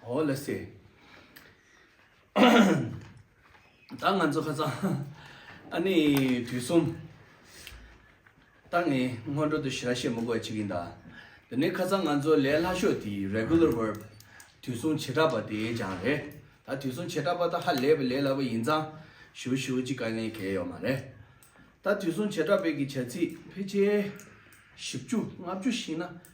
ཨོ་ལེ་སི། ད་ང་ཚོ་ཁ་སང་ཨ་ནི་དུས་གསུམ་ད་ངས་སྔོན་འགྲོ་དུ་ཞི་ར་བཤད་མི་དགོས་པ་ཅིག་ཡིན་ད། དེ་ནས་ཁ་སང་ང་ཚོ་ལས་སླ་ཤོས་དེ Regular Verb དུས་གསུམ་བྱེ་བྲག་པ་དེ་སྦྱངས་རེད། ད་དུས་གསུམ་བྱེ་བྲག་པ་ད་ཧ་ལས་པའི་ལས་སླ་པོ་ཡིན་ཙང་ཞུ་ཞུ་ཅིག་དཀའ་ངལ་གལ་ཡོད་མ་རེད། ད་དུས་གསུམ་བྱེ་བྲག་པའི་གི་བྱ་ཚིག་ཕལ་ཆེར་བཞི་བཅུ་ལྔ་བཅུ་ཤི་ན།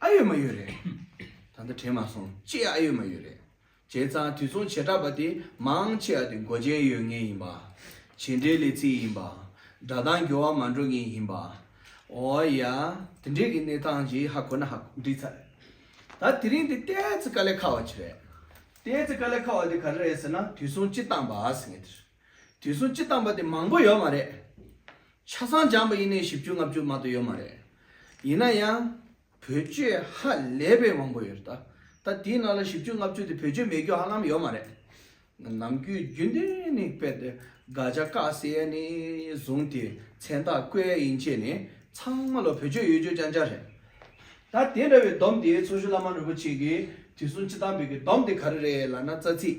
ཨ་ཡོད་མ་ཡོད་རེད། ད་ལྟ་དྲན་མ་སོང་ཅི་ཨ་ཡོད་མ་ཡོད་རེད། བྱས་ཙང་དུས་མཚུངས་བྱེ་བྲག་པ་དེ་མང་ཆེ་བ་དེ་མགོ་ཅན་ཡོད་ངེས་ཡིན་པ། བྱེད་འབྲེལ་ལས་ཚིག་ཡིན་པ། སྒྲ་གདངས་འགྱུར་བ་མ་འགྲོ་ངེས་ཡིན་པ། འོ་ཡ། དེ་འདྲའི་གི་གནས་སྟངས་ཀྱི་ཧ་གོ་ན་ཧ་འདྲི་ཚར་རེད། ད་དེ་རིང་དེ་ཏའེ་ཙི་ཀ་ལེ་ཁ་བ་ཅི་རེད། ཏའེ་ཙི་ཀ་ལེ་ཁ་བ་དེ་ག་རེ་རེད་ཟེར་ན་དུས་མཚུངས་སྤྱི་བཏང་པ་ཨ་སི་ངེ་དེ་རེད། དུས་གསུམ་སྤྱི་བཏང་པ་དེ་མང་པོ་ཡོད་མ་རེད། ཆ་ཚང་སྦྱངས་པ་ཡིན་ནའི་བཞི་བཅུ་ལྔ་བཅུ་མ་གཏོགས་ཡོད་མ་རེད། ཡིན་ན་ཡང། བོད་ཆོས་ཧ་ལས་པའི་དབང་པོ་ཡོད་རེད་ད། ད་དེའི་ནང་ལ་བཞི་བཅུ་ལྔ་བཅུ་དེ་བོད་ཆོས་མེད་རྒྱུ་ཧ་ལམ་ཡོད་མ་རེད། ནམ་རྒྱུན་རྒྱུན་ལྡན་ནས་དཔེ་དེབ་དགའ་བྱ་དཀའ་སེལ་ནས་བཟུང་སྟེ་མཚན་རྟགས་བཀོད་ཡིན་ཆེས་ནས་ཚང་མ་ལ་བོད་ཆོས་ཡོད་རྒྱུ་ཅང་ཅང་རེད། ད་དེ་འདྲ་བའི་སྡོམ་དེ་ཚོགས་གཞོན་བླ་མ་རིན་པོ་ཆེ་གིས་དུས་གསུམ་སྤྱི་བཏང་བོད་ཀྱི་སྡོམ་དེ་ག་རེ་རེད་ལ་ན་རྩ་ཚིག།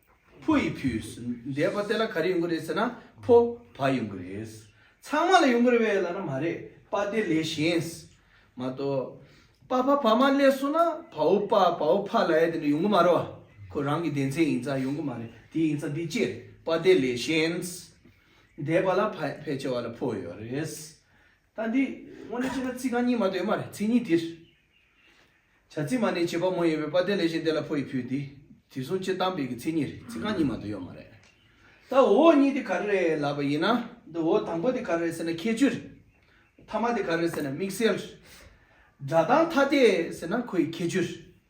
ཕོ་ཡི་ཕུས་འདེད་པ་དེ་ལ་ག་རེ་ཡོང་གི་རེད་ཟེར་ན་ཕོ་བ་ཡོང་གི་རེད། ཚང་མ་ལ་ཡོང་གི་རེད་བས་ལ་ན་མ་རེད་པ་དེ་ལས་གཞན་མ་གཏོགས། པ་ཕ་བ་མ་ལས་སོ་ན་བའོ་པ་བའོ་ཕ་ལ་ཡ་དེ་འདྲ་ཡོང་གི་མ་རེད་བ། ཁོ་རང་གི་སྡེ་མཚན་ཡིན་ཙང་ཡོང་གི་མ་རེད་དེ་ཡིན་ཙང་དེ་ཅེར་བ་དེ་ལས་གཞན། འདས་པ་ལ་ཕལ་ཆེ་བ་ལ་ཕོ་ཡོད་རེད། ད་འདི་དངོས་གནས་བྱས་ན་ཚིག་རྐང་གཉིས་མ་གཏོགས་ཡོད་མ་རེད་ཚིག་གཉིས་དེར། བྱ་ཚིག་མ་ནི་བྱེད་པ་མོ་ཡིན་པའི་དཔའ་སྟོན་ལས་གཞན་དེ་ལ་ཕོ་ཡིས་ཕུལ་འདི་དེ་གསུང་སྤྱིར་བཏང་དཔེ་གི་ཚིག་གཉིས་རེད་ཚིག་རྐང་གཉིས་མ་གཏོགས་ཡོད་མ་རེད། ད་འོ་གཉིས་དེ་ག་རེ་རེད་ལབ་པ་ཡིན་ན་འདི་འོ་དང་པོ་དེ་ག་རེ་རེད་ཟེར་ན་ཁྱད་ཆོས་རེད། ཐ་མ་དེ་ག་རེ་རེད་ཟེར་ན་དམིགས་བསལ་རེད། སྒྲ་གདངས་ཐ་དད་ཟེར་ན་ཁོ་ཡི་ཁྱད་ཆོས་རེད།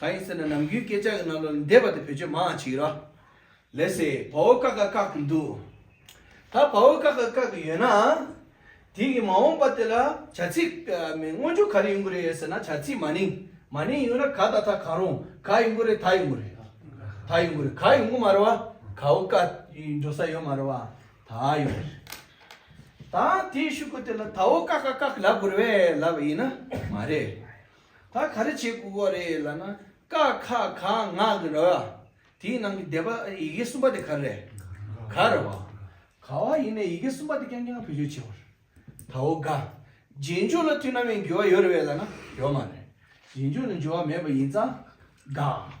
གང་ཡིན་ཟེར་ན་ནམ་རྒྱུན་སྐད་ཆ་གི་ནང་ལོག་ལས་འདས་པ་དེ་བོད་ཆོས་མ་འང་ཆིག་ར་ལས་སེ་བ་འོ་ཀ་ཀ་བཀག་གི་འདུག་ད་བ་འོ་ཀ་ཀ་བཀག་གི་ཡོད་ནའང་དེ་གི་མ་འོངས་པ་དེ་ལ་བྱ་ཚིག་སྔོན་འཇུག་ག་རེ་ཡོང་གི་རེད་ཟེར་ན་བྱ་ཚིག་མ་ནིང་མ་ནིང་ཡོང་ན་ག་ད་ད་གང་རུང་ག་ཡོང་གི་རེད་ད་ཡོང་གི་རེད་ད་ཡོང་གི་རེད་ག་ཡོང་གི་མ་རེད་བ་ག་འོ་ཀ་འགྲོ་ས་ཡོད་མ་རེད་བ་ད་ཡོང་གི་རེད་ད་དེ་ཤུག་གི་དེ་ལ་ད་འོ་ཀ་ཀ་བཀག་གི་ལབ་དགོས་རེད་བས་ལབ་ཡིན་ན་མ་རེད། ད་ག་རེ་བྱེད་དགོས་པ་རེད་ལ་ན་ཀ་ཁ་ག་ང་གི་ར་བ་དེའི་ནང་གི་སྡེ་པ་ཡི་གེ་གསུམ་པ་དེ་ག་རེད། ག་ར་བ། ག་བ་ཡིན་ནའི་ཡི་གེ་གསུམ་པ་དེ་རྐྱང་རྐྱང་བེད་སྤྱོད་བྱེད་པར་ད་འོ་ག། རྗེས་འཇུག་ལ་མཐུན་ན་མིན་འགྱུར་བ་ཡོད་རེད་བས་ལ་ན་ཡོད་མ་རེད། རྗེས་འཇུག་ལ་འགྱུར་བ་མེད་པ་ཡིན་ཙང་ག་གི།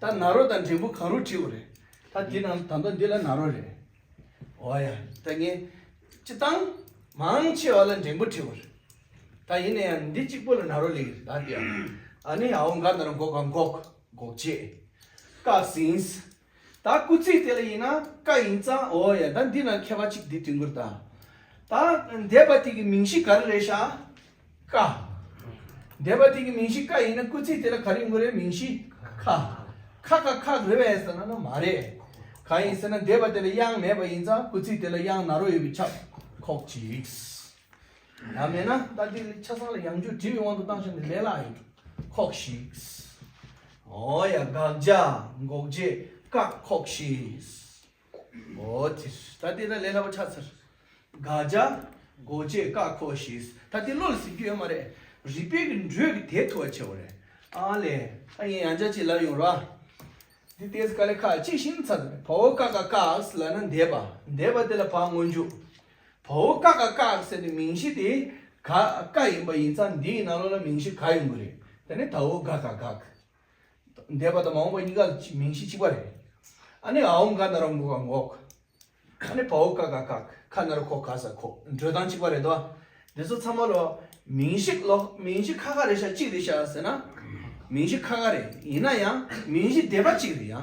ད་ནཱ་རོ་དང་འབྲས་བུ་གང་རུང་བྲིའོ་རེད། ད་འདི་རྣམས་ད་མདོ་འདི་ལ་ནཱ་རོ་རེད། འོ་ཡ། ད་ངས་ཅི་བཏང། མང་ཆེ་བ་ལ་འབྲས་བུ་བྲིའོ་རེད། ད་ཡིན་ན་ཡང་འདི་གཅིག་པོ་ལ་ནཱ་རོ་ལེགས་རེད་ད་འདི། ཨ་ནི་ཨའོ་འགའ་ན་རུ་འགོག་ག་འགོག་འགོག་བྱེད། ཀ་ཟིན། ད་སྐུ་ཚེགས་དེ་ལ་ཡིན་ན་ཀ་ཡིན་ཙང་འོ་ཡ་ད་འདི་ན་མཁས་པ་གཅིག་འདི་དུས་འགོར་ད། ད་འདས་པ་དེ་གི་མིང་གཞི་ག་རེ་རེད་ཤག་ཀ། འདས་པ་དེ་གི་མིང་གཞི་ཀ་ཡིན་ན་སྐུལ་ཚིག་དེ་ལ་ག་རེ་ཡིན་དགོས་རེད་མིང་གཞི་ཁ། ཁ་ཁ་ཁ་རེད་བས་ཟེར་ན་ན་མ་རེད། གང་ཡིན་ཟེར་ན་འདས་པ་དེ་ལ་དབྱངས་མེད་པ་ཡིན་ཙང་སྐུལ་ཚིག་དེ་ལ་དབྱངས་ན་རོ་ཡོད་པའི་ཁྱབ་ཁོག་ཅིག། ཡང་མེད་ན་ད་དེ་ཆ་ཚང་ལ་དབྱངས་འགྱུར་བྲིས་པའི་དབང་དུ་བཏང་ཞོར་ནས་ལས་སླ་ཡོད་ཁོག་ཞིག། ཨོ་ཡ་དགག་བྱ་འགོག་བྱེད་བཀག་ཁོག་ཞིག། འོ་དེ་ད་ལྟའི་ན་ལས་སླ་པོ་ཆགས་ཚར། དགག་བྱ། འགོ་བཅས་བཀག་འཁོར་ཞེས་ད་ལྟའི་བློ་ལ་ཟིན་རྒྱུ་ཡོད་མ་རེད། རིགས་པའི་གི་འགྲོས་ཀྱི་དེ་ཐུ་བ་ཆེ་བ་རེད། ཨ་ལས། ཨ་ཡིན་ཡང་བྱ་ཅིག་ལབ་ཡོང་རོགས། འདི་ལྟའི་དཀའ་ལས་ཁག་ཅིག་ཤིན་ཚར། བ་བོ་ཀ་ཀ་ཀགས་ལ་ན་འདས་པ་འདས་པ་དེ་ལ་བ་སྔོན་འཇུག། བ་བོ་ཀ་ཀ་ཀགས་ཟེར་བའི་མིང་གཞི་དེ་ག་ཀ་ཡིན་པ་ཡིན་ཙང་འདིའི་ནང་ལོགས་ལ་མིང་གཞི་ག་ཡོང་གི་རེད་དེ་ནི་ད་བོ་ག་ཀ་ཀགས། འདས་པ་དང་མ་འོངས་པ་གཉིས་ཀ་ལ་མིང་གཞི་གཅིག་པ་རེད། ཨ་ནི་ཨའོ་འགའ་ན་ར་འགོ་ག་འགོག། ཨ་ནི་བའོ་ཀ་ག་གག་ཁ་ན་ར་ཁོག་ག་ཟ་ཁོག་འགྲོས་དང་གཅིག་པ་རེད་དོ། འདི་ཚོ་ཚང་མ་ལོ་མིང་གཞི་ལོ་མིང་གཞི་ཁ་ཁ་རེད་ཤག་གཅིག་རེད་ཤག་ཟེར་ན། མིང་གཞི་ཁ་ཁ་རེད་ཡིན་ན་ཡང་མིང་གཞི་འདས་པ་གཅིག་རེད་ཡ།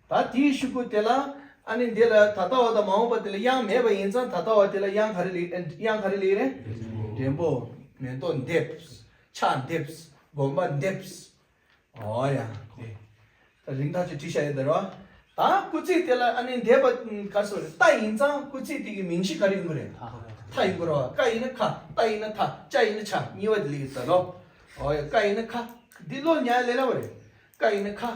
ད་དེའི་ཤུགས་ཀུན་དེ་ལ་ཨ་ནི་འདི་ལ་ད་ལྟ་བ་དང་མ་འོངས་པ་དེ་ལ་དབྱངས་མེད་པ་ཡིན་ཙང་ད་ལྟ་བ་དེ་ལ་དབྱངས་ག་རེ་ལེགས་དབྱངས་ག་རེ་ལེགས་རེད། འདྲེན་པོ། མེ་ཏོག་འདེབས། ཆག་འདེབས། དགོན་པ་འདེབས། ཨོ་ཡ། ད་རིང་ཐག་ཆོད་བྲིས་བཞག་ཡོད་ད་རེད་བ། ད་སྐུ་ཚེགས་དེ་ལ་ཨ་ནི་འདེབས་པ་ག་སོ་རེད་རྟ་ཡིན་ཙང་སྐུ་ཚེགས་དེ་གི་མིང་གཞི་ག་རེ་ཡིན་དགོས་རེད། ཐ་ཡིན་དགོས་རེད་བ། ཀ་ཡིན་ན་ཁ། ཏ་ཡིན་ན་ཐ། ཅ་ཡིན་ན་ཆ་གཉིས་བ་དེ་ལེགས་ཡོད་ད་རེད་བ། ཨོ་ཡ་ཀ་ཡིན་ན་ཁ། འདི་བློ་ཉག་ལེ་ལ་བ་རེད། ཀ་ཡིན་ན་ཁ།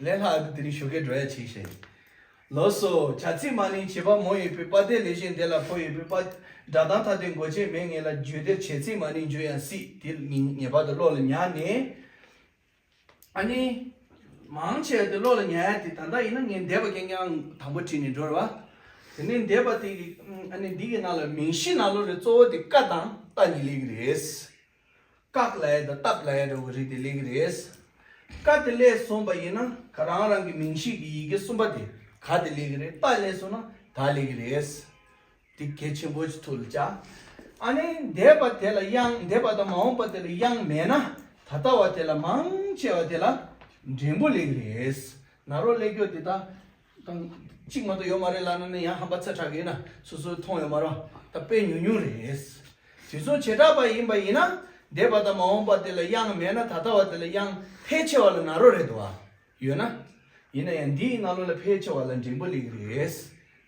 ལས་ལྷག་དེ་ནི་ཞོ་ཁའི་འགྲོ་ཡ་བྱས་ཤིང། ལོ་སོ་བྱ་ཚིག་མ་ནི་བྱེད་པ་མོ་ཡོད་པའི་པ་དེ་ལས་གཞན་དེ་ལ་ཕོ་ཡོད་པའི་པ། སྒྲ་གདངས་ཐ་དད་མགོ་ཅན་མའི་ངེས་ལ་བརྗོད་བདེར་བྱས་ཚིག་མ་ནི་འཇུ་ཡང་སྲིད་དེ་ངེས་པར་དུ་བློ་ལ་ཉག་ནས། ཨ་ནི། མང་ཆེ་བ་དེ་བློ་ལ་ཉག་ཡ་དེ་ད་ལྟ་ཡིན་ན་ངས་འདས་པ་ཀྱང་ཀྱང་དང་པོ་བྲིས་ནས་འགྲོ་རེ་བ། དེ་ནས་འདས་པ་དེ་གི་ཨ་ནི་འདི་གི་ནང་ལ་མིང་གཞི་ནང་ལོ་རེ་གཙོ་བོ་དེ་ཀ་དང་ཏཱ་གཉིས་ལེགས་ཀྱི་རེད། བཀག་ལས་དང་བཏགས་ལས་འདྲ་བོ་རེད་དེ་ལེགས་རེད། བཀའ་དེ་ལས་སོང་བ་ཡིན་ན་ག་རང་རང་གི་མིང་ཤེས་ཀྱི་ཡི་གེ་གསུམ་པ་དེ་ག་དེ་ལེགས་རེད་བཏགས་ལས་སོང་ན་ད་ལེགས་རེད། དེ་གལ་ཆེན་པོ་ཐུགས་ལ་བཅའ། ཨ་ནི་འདས་པ་དེ་ལ་དབྱངས་འདས་པ་དང་མ་འོངས་པ་དེ་ལ་དབྱངས་མེད་ན་ད་ལྟ་བ་དེ་ལ་མང་ཆེ་བ་དེ་ལ་འགྲེང་བོ་ལེགས་རེད། ནཱ་རོ་ཀླད་སྐྱོ་དེ་དག་དང། གཅིག་མ་གཏོགས་ཡོད་མ་རེད་ལབ་ན་ནི་ཡང་ཧམ་པ་ཚ་དྲག་གི་ཡིན་ན་སོ་སོའི་མཐོང་ཡོད་མ་རོ། ད་དཔེ་ཉུང་ཉུང་རེད། དུས་ཚོད་བྱེ་བྲག་པ་ཡིན་པ་ཡིན་ན་འདས་པ་དང་མ་འོངས་པ་དེ་ལ་དབྱངས་མེད་ན་ད་ལྟ་བ་དེ་ལ་དབྱངས་ཕལ་ཆེ་བ་ལ་ན་རོ་རེད་དོ། ཡོད་ན། ཡིན་ན་ཡང་འདིའི་སྔ་ལོ་ལ་ཕལ་ཆེ་བ་ལ་འགྲེང་བུ་ལེགས་རེད།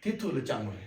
དེ་ཐུགས་ལ་བཅངས་པ་རེད།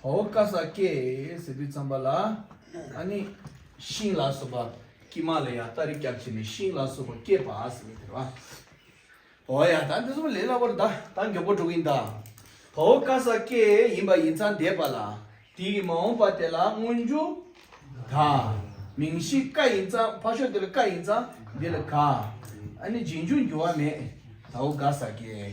བ་བོ་ཀ་ས་ཀའི་ཟེ་བུས་ཚངས་པ་ལ་ཨ་ནི་ཤིང་ལ་སོགས་པ་ཀི་མ་ལ་ཡ་ཏཱ་རི་སྐྱབས་བྱས་ནས་ཤིང་ལ་སོགས་པ་བསྐྱེད་པ་ཟེ་བས་ཐལ་བ་བོ་ཨ་ཡ་ད་འདི་གསུམ་ལས་སླ་བོར་ད་ད་མགྱོགས་པོ་འགྲོ་གིན་གདའ། བ་བོ་ཀ་ས་ཀའི་ཡིན་པ་ཡིན་ཚངས་འདས་པ་ལ་དེ་ཡིས་མ་འོངས་པ་དེ་ལ་མངོན་རྒྱུ་གདའ། མིང་གཞི་ཀ་ཡིན་ཚངས་ཕ་ཤོ་དེ་ལ་ཀ་ཡིན་ཚངས་འདི་ལ་ག་ཨ་ནི་རྗེས་འཇུག་འགྱུར་བ་མེད་ད་བོ་ཀ་ས་ཀའི།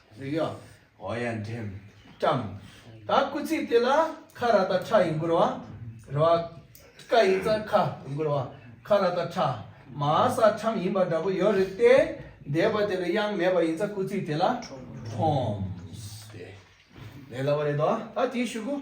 གཟིགས་ཡོ། ཨོ་ཡ་འགྲེམས། བཀྲམ། ད་སྐུ་ཚིགས་དེ་ལ་ཁ་ར་ད་ཁྲ་ཡི་མགུར་བ། ར་བ། ཀ་ཡི་རྩ་ཁ་ཡི་མགུར་བ། ཁ་ར་ད་ཁྲ། མ་ས་ཁྲམ་ཡིན་པ་འདྲ་པོ་ཡོད་རེད་དེ། འདས་པ་དེ་ལ་དབྱངས་མེད་པ་ཡིན་ཙང་སྐུ་ཚིགས་དེ་ལ། ཁྲོམས། ལས་སླ་བ་རེད་དོ། ད་དེའི་ཞུ་སྒོ།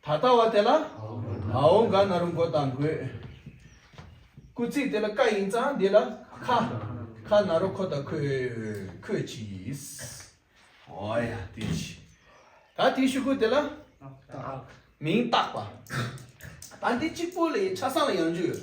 ད་ལྟ་བ་དེ་ལ་ཨའོ་ག་ན་རུ་མགོ་དང་མགོའི་སྐུ་ཚིགས་དེ་ལ་ཀ་ཡིན་ཙང་འདི་ལ་ཁ་ཁ་ན་རུ་ཁོ་དང་ཁོའི་ཁོས་ཀྱིས་ཨོ་ཡ་དེ་ཅི་ད་དེ་ཤུ་གུ་དེ་ལ་མིང་བཏགས་པ་ད་འདི་གཅིག་པོ་ལ་ཡིན་ཆ་སང་ལ་ཡང་འཇུག་ཡོད་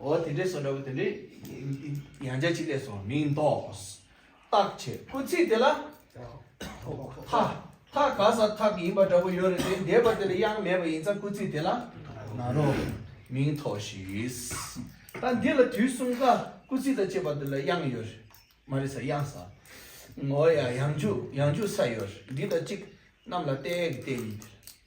འོ་དེ་འདྲའི་སོ་འདྲ་བོ་དེ་འདྲའི་ཡང་བྱ་ཅིག་ལས་སོ་མིང་འདོགས། བརྟག་བྱེད་སྐུལ་ཚིག་དེ་ལ། ཐ། ཐ་ག་ས་ཐག་ཡིན་པ་འདྲ་བོ་ཡོད་རེད་དེ་འདས་པ་དེ་ལ་དབྱངས་མེད་པ་ཡིན་ཙང་སྐུལ་ཚིག་དེ་ལ། ན་རོ། མིང་ཐོགས་ཤིག། ད་འདི་ལ་དུས་གསུམ་ཀ་སྐུལ་ཚིག་དང་བཅས་པ་དེ་ལ་དབྱངས་ཡོད་རེད་མ་རེད་ས་དབྱངས་ས། འོ་ཡ་ཡང་འཇུག་ཡང་འཇུག་ས་ཡོད་རེད་འདི་དང་གཅིག་རྣམས་ལ་བལྟས་བལྟས་ཡིན།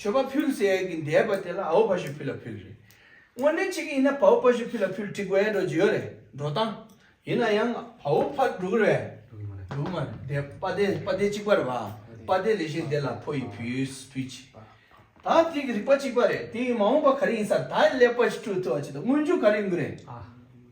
མཆོད་པ་ཕུལ་ཟེར་ཡས་ཀྱི་འདས་པ་དེ་ལ་ཨའོ་བྷ་ཞུ་ཕུལ་ལ་ཕུལ་རེད། དངོས་གནས་ཅི་གི་ཡིན་ན་བའོ་བྷ་ཞུ་ཕུལ་ལ་ཕུལ་བྲིས་དགོས་ཡ་འགྲོ་ཅི་ཡོད་རེད་འགྲོ་སྟངས། ཡིན་ན་ཡང་བའོ་བྷ་འགྲོ་གི་རེད། འགྲོ་གི་མ་རེད་འདས་པ་བདེ་པ་བདེ་གཅིག་པ་རེད་བ་པ་བདེ་ལས་གཞན་འདས་ལ་ཕོ་ཡིས་ཕུལ་ཕུལ་ཅི། ད་དེ་གི་རིག་པ་གཅིག་པ་རེད་དེ་གི་མ་འོངས་པ་ག་རེ་ཡིན་ས་ད་ལེགས་པ་ཞིག་སྤྲོད་ཐུབ་བ་ཅི་དང་དངོས་འབྱོར་ག་རེ་ཡོང་གི་རེད།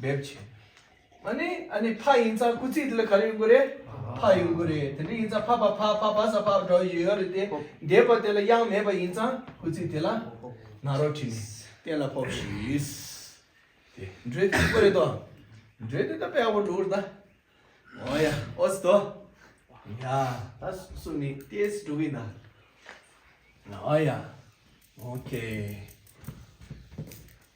འབེབས་བྱས། ཨཱ་ནི་ཨཱ་ནི་ཕ་ཡིན་ཙང་སྐུ་ཚེགས་དེ་ལ་ག་རེ་ཡོང་གི་རེད། ཕ་ཡོང་གི་རེད། དེ་འདྲ་ཡིན་ཙང་ཕ་ཕ་ཕ་ཕ་ཕ་ས་ཕ་འདྲ་བོ་ཡོད་རེད་དེ། འདས་པ་དེ་ལ་གཡང་མེད་པ་ཡིན་ཙང་སྐུ་ཚེགས་དེ་ལ་ནག་རོག་བྲིས་ནས་གཏན་ལ་ཕོག་ཤིས། དེ་འདྲའི་ཚིག་པོ་རེད་དོ། འདྲེ་དེ་ད་པའོ་འགྲོ་རུ་ད། ཨོ་ཡ་ཨོ་སི་དོ། ཡ་ད་སུ་ནི་ཏེ་སི་འགྲོ་གི་ན། ཨོ་ཡ་ཨོ་ཀེ།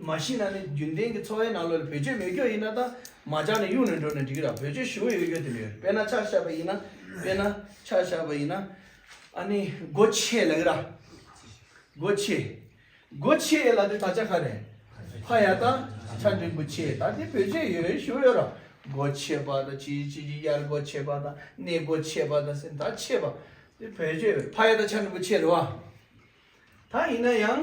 མ་ཤི་ན་ནི་རྒྱུན་ལྡན་གྱི་འཚོ་བའི་ནང་ལོ་ལ་བེད་སྤྱོད་མེད་སྐྱོ་ཡིན་ན་ད་མ་ཅག་ནི་གཡུག་ནས་འགྲོ་ནས་འགྲིག་ར་བེད་སྤྱོད་ཞི་བོ་ཡོད་ཡོད་དེ་མེད་དཔེར་ན་ཆག་ཤ་བ་ཡིན་ན་དཔེར་ན་ཆག་ཤ་བ་ཡིན་ན་ཨ་ནི་སྒོ་ཕྱེས་ལེགས་ར་སྒོ་ཕྱེས་སྒོ་ཕྱེས་ལ་དེ་ད་ཆ་ཁ་རེ་ཕ་ཡ་ད་ཆ་འགྲིག་པོ་ཕྱེས་ད་དེ་བེད་སྤྱོད་ཡོད་ཞི་བོ་ཡོད་ར་སྒོ་ཕྱེས་པ་ད་ཅི་ཡི་ཅི་ཡི་ཡར་སྒོ་ཕྱེས་པ་ད་སྣེ་སྒོ་ཕྱེས་པ་ད་སེམས་ད་ཕྱེས་པ་དེ་བེད་སྤྱོད་ཡོད་ར་ཕ་ཡ་ད་ཆ་འགྲིག་པོ་ཕྱེས་ར་བ་ད་ཡིན་ན་ཡང།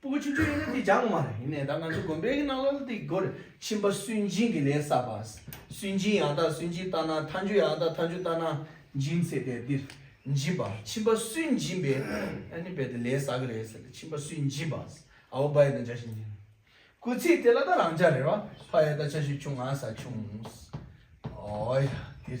སྤོ་བོ་ཆུང་ཆུང་ཡིན་ན་དེ་ཅང་མ་རེད་ཡིན་ནའི་ད་ང་ཚོ་དགོན་པའི་ནང་ལ་དེ་སྒོར་ཕྱིན་པ་སུན་འབྱིན་གྱི་ལས་བསགས་པ་སུན་འབྱིན་ཡང་དག་སུན་འབྱིན་བཏང་ན་མཐའ་མཇུག་ཡང་དག་མཐའ་མཇུག་བཏང་ན་འབྱིན་ཚེ་དེ་འདིར་འབྱིན་པ་ཕྱིན་པ་སུན་འབྱིན་པའི་ཨ་ནི་བས་དེ་ལས་བསགས་གི་རེད་ཟེར་ལ་ཕྱིན་པ་སུན་འབྱིན་པ་ཨ་བོ་བ་ཡི་དང་བཅའ་ཞིང་འབྱིན་སྐུ་ཚེ་དེ་ལ་ད་རང་ཅག་རེ་བ་ཕ་ཡི་དང་བཅའ་ཞིང་ཆུང་ང་ས་ཆུང་ཨོ་ཡ་འདིར།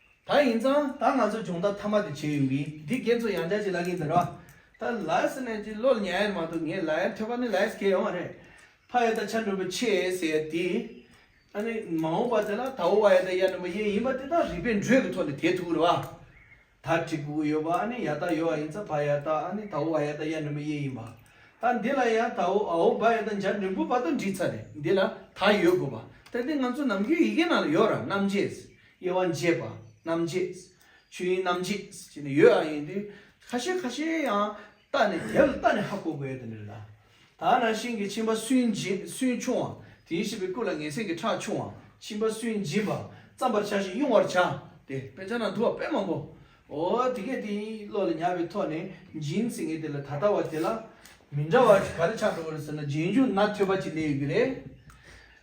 ད་ཡིན་ཙང་ད་ང་ཚོས་སྦྱོང་བརྡར་མཐའ་མ་དེ་བྱས་ཡོང་གི་འདི་རྒན་ཚོ་ཡང་བསྐྱར་གྱི་ལག་གིས་འདི་ར་ད་ལའི་སི་ནས་ཀྱི་བློ་ལ་ཉན་ཡ་ནི་མ་འདུག་ངས་ལའི་འཕྲད་པ་ནི་ལའི་སི་ཁེ་ཡོང་བ་རེད་ཕ་ཡ་ད་ཆ་འགྲོ་བའི་ཆེ་ཟེར་ཡ་དེ་ཨ་ནི་མ་འོངས་པ་དེ་ལ་ད་འོ་བ་ཡ་ད་ཡ་ནི་མ་ཡེ་ཡིན་པ་དེ་དག་རིག་པའི་འགྲོས་ཀྱི་ཐོག་ནས་དེ་ཐུག་རེ་བ་ད་གྲི་གུག་ཡོད་པ་ཨ་ནི་ཡ་ད་ཡོད་བ་ཡིན་ཙང་ཕ་ཡ་ད་ཨ་ནི་ད་འོ་བ་ཡ་ད་ཡ་ནི་མ་ཡེ་ཡིན་པ་ད་འདི་ལ་ཡང་ད་འོ་ཨའོ་བ་ཡ་ད་འཇར་མན་བུ་བ་ད་འདྲི་ཚར་རེད་འདི་ལ་ད་ཡོད་དགོས་པ་ད་འདི་ང་ཚོ་ནམ་རྒྱུན་ཡི་གེ་ནང་ལ་ཡོད་ར་རྣམ་འབྱེད་དབྱེ་བ་འབྱེད་པ་རྣམ་འབྱེད། ཆོས་དབྱིངས་རྣམ་འབྱེད་ཅེས་ནི་ཡོད་ཨ་ཡིན་དུས་ཁ་ཤས་ཁ་ཤས་ཡང་བལྟ་ནས་དེ་ལ་བལྟ་ནས་ཧ་གོ་དགོས་ཡོད་དོ་འདིར་ད་ད་ནང་བཞིན་གྱི་ཕྱིན་པ་སུན་འབྱིན་སུན་ཕྱུང་བ་དེའི་བྱེད་པའི་སྐུ་ལ་ངེས་ཚིག་གི་ཁྲག་ཕྱུང་བ་ཕྱིན་པ་སུན་འབྱིན་པ་བརྩམ་པར་བྱ་ཞིང་དབྱུང་བར་བྱ་སྟེ། དཔེ་ཆ་ན་དུ་བ་དཔེ་མང་པོ་འོ་དེ་སྐད་དེ་ཡིན་བློ་ལ་ཉར་བའི་ཐོག་ནས་འབྱིན་ཟིན་གྱི་དེ་ལ་ད་ལྟ་བ་དེ་ལ་མི་འདྲ་བ་ག་རེ་ཆགས་འགྲོ་བ་རེད་ཟེར་ན་རྗེས་འཇུག་ན་ཐོས་པ་གཅིག་བསླད་ཡོད་ཀྱི་རེད།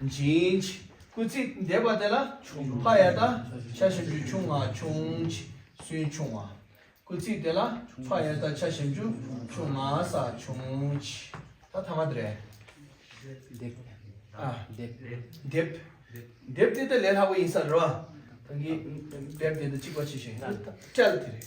འབྱིན། སྐུལ་ཚིག་འདེབས་པ་དེ་ལ་ཕ་ཡ་ད་ཆ་བཞིན་ཆུ་ཆུང་ང་ཆུང། སུན་ཆུང་བ། སྐུལ་ཚིག་དེ་ལ་ཕ་ཡ་ད་ཆ་བཞིན་ཆུ་ཆུང་ང་ས་ཆུང། ད་ཐ་མ་དེ་རེད། འདེབས། འདེབས་དེ་ད་ལས་ལྷག་པ་ཡིན་ས་རེད་བ། འདེབས་དེ་ད་གཅིག་པ་ཆེ་ཞིང། སྤྲད་དེ་རེད།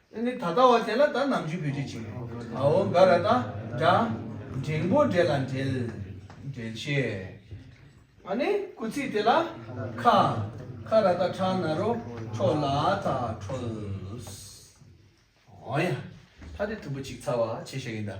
ཨེ་ནི་ད་ལྟ་བ་དེ་ལ་ད་ནམ་རྒྱུས་བུད་དྲི་བྱིན། ཨའོ་འགའ་ར་ད་འདྲ། འབྲིང་པོ་འདྲེ་ལ་འདྲེལ། འདྲེ་ཆེ། ཨ་ནི་སྐུ་ཚིགས་དེ་ལ་ཁ། ཁ་ར་ད་ཁྲག་ན་རོ་ཁྲོ་ལ་ད་ཁྲོལ། ཨོ་ཡ། ད་དེ་དུམ་བུ་གཅིག་ཚ་བ་ཆེ་ཤོས་ཡིན་ད།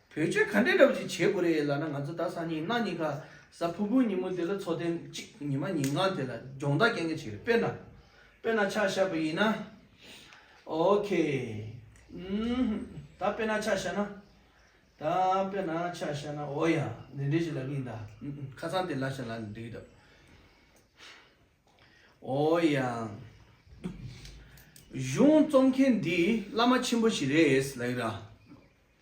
བོད་ཆས་ག་འདྲའི་རབས་ཀྱི་བྱེད་དགོས་རེད་ལ་ན་ང་ཚོ་ད་སང་ཉིན་གནའ་ཉིན་ག་ས་ཕུར་བུའི་ཉིན་མོ་དེ་ལ་འཚོ་ཐེངས་གཅིག་ཉི་མ་ཉིན་ལྔ་དེ་ལ་སྦྱོང་བརྡར་སྐྱེལ་མཁན་ཞིག་རེད་དཔེར་ན། དཔེར་ན་ཆ་བཞག་པ་ཡིན་ན། ok ཨུམ་ད་དཔེར་ན་ཆ་བཞག་ན། ད་དཔེར་ན་ཆ་བཞག་ན་འོ་ཡ་འདི་འདྲའི་ཞིག་ལབ་གི་ཡིན་ད་ཨུམ་ཁ་སང་དེ་ལ་ཞིག་ལབ་འདི་འདྲ་འོ་ཡ། གཞུང་རྩོམ་མཁན་འདི་བླ་མ་ཆེན་པོ་ཞིག་རེད་ལབ་གི་ར།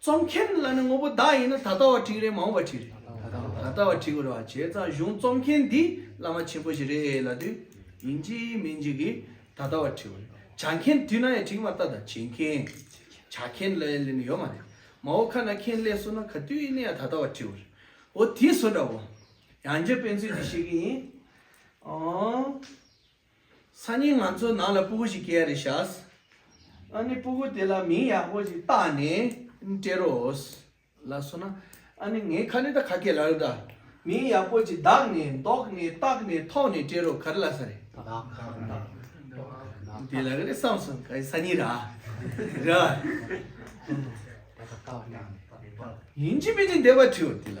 རྩོམ་མཁན་ལ་ནི་དངོས་པོ་བདག་ཡིན་ན་ད་ལྟ་བ་བྲིས་རེད་མ་འོངས་པ་བྲིས་རེད། ད་ལྟ་བ་བྲིས་དགོས་རེད་བ་བྱས་ཙང་གཞུང་རྩོམ་མཁན་འདི་བླ་མ་ཆེན་པོ་ཞིག་རེད་ལ་དུས་ཡིན་གཅིག་མིན་གཅིག་གིས་ད་ལྟ་བ་བྲིས་པ་རེད་བྱ་མཁན་དུས་ན་ཡང་བྲིས་མ་ལྟ་ད་བྱེད་མཁན་བྱ་མཁན་ལ་ལས་ནི་ཡོད་མ་རེད་མ་འོ་ཁ་ན་མཁན་ལས་སོ་ན་ག་དུས་ནས་ཡང་ད་ལྟ་བ་བྲིས་བ་རེད་འོ་དེ་སོ་འདྲ་བོ། ཡང་རྗེ་དཔོན་ཚུལ་འདི་ཤེས་ཀྱི་ཡིན། སང་ཉིན་ང་ཚོའི་ནང་ལ་སྤུ་གུ་ཞིག་སྐྱེ་ཡ་རེད་ཤགས། ཨ་ནི་སྤུ་གུ་དེ་ལ་མིང་ཡག་པོ་ཞིག་བཏགས་ནས་སྤྲད་རོགས། ལགས་སོ་ན། ཨ་ནི་ངའི་ཁ་ནི་ད་ག་གེ་ལ་རོ་ད། མིང་ཡག་པོ་ཅིག་བདག་ནས་འདོགས་ནས་བཏགས་ནས་ཐོག་ནས་སྤྲད་རོགས་ག་རེ་ལ་ས་རེད། དེ་ལ་ག་རེ་བསམ་སོང་ག་ས་ཉིན་ར། ར། ཡིན་གཅིག་མིན་གཅིག་འདས་པ་བྲིས་འོ་དེ་ལ།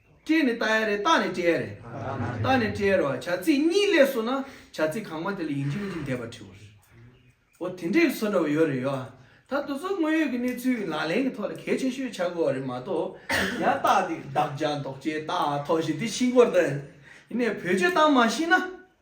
སྐྱེས་ནས་བཏགས་ཡ་རེད་བཏགས་ནས་སྐྱེས་ཡ་རེད། བཏགས་ནས་སྐྱེས་ཡ་རེད་བ་བྱ་ཚིག་གཉིས་ལས་སོ་ན་བྱ་ཚིག་གང་མ་དེ་ལ་ཡིན་གཅིག་མིན་གཅིག་འདེབས་པ་འཁྲིའོ་རེད། འོ་དེ་འདྲའི་སོ་འདྲ་བ་ཡོད་རེད་ཡོད་ཨ། ད་དུ་ཚོད་དངོས་ཡོད་ཀྱི་གནས་ཚུལ་གྱི་ལག་ལེན་གྱི་ཐོག་ལ་གལ་ཆེ་ཤོས་ཆགས་དགོས་བ་རེད་མ་གཏོགས་ཡང་བཏགས་འདི་བདག་ཅག་འདོགས་ཅེས་བཏགས་ཐོག་བཞིན་དེ་ཤིང་སྐོར་དང། ཡིན་ནས་བོད་ཆོས་གཏམ་མ་ཤེས་ན།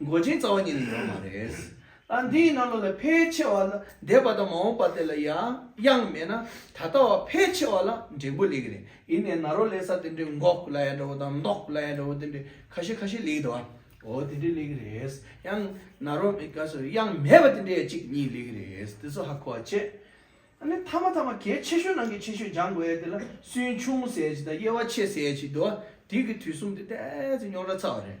མགོ་ཅན་རྩ་བ་ཉིད་ལ་ཡོད་པ་མ་རེད། ད་འདིའི་རྣ་ལོ་ལ་ཕལ་ཆེ་བ་ལ་འདས་པ་དང་མ་འོངས་པ་དེ་ལ་ཡང་དབྱངས་མེད་ན་ད་ལྟ་བ་ཕལ་ཆེ་བ་ལ་འབྲས་བུ་ལེགས་རེད་ཡིན་ནའི་ན་རོ་ལེགས་ས་དེ་འདྲའི་འགོག་ལ་ཡ་འདྲ་བོ་དང་མདོག་ལ་ཡ་འདྲ་བོ་དེ་འདྲའི་ཁ་ཤས་ཁ་ཤས་ལེགས་འདུག་ཨ་འོ་དེ་འདྲའི་ལེགས་རེད་ཡང་ན་རོ་མེད་ཀ་སོ་དབྱངས་མེད་པ་དེ་འདྲའི་ཡ་གཅིག་གཉིས་ལེགས་རེད་དེ་ཚོ་ཧ་གོ་བ་བྱས་ཨ་ནི་མཐའ་མ་ཐ་མ་གལ་ཆེ་ཤོས་ནང་གི་ཆེ་ཤོས་སྦྱང་དགོས་ཡ་དེ་ལ་སུན་ཕྱུང་ཟེར་གྱི་དང་དབྱེ་བ་ཕྱེ་ཟེར་གྱི་འདུག་ཨ་དེ་གི་དུས་གསུམ་དེ་དེ་ཚོ་རྙོག་དྲ་ཚ་བ་རེད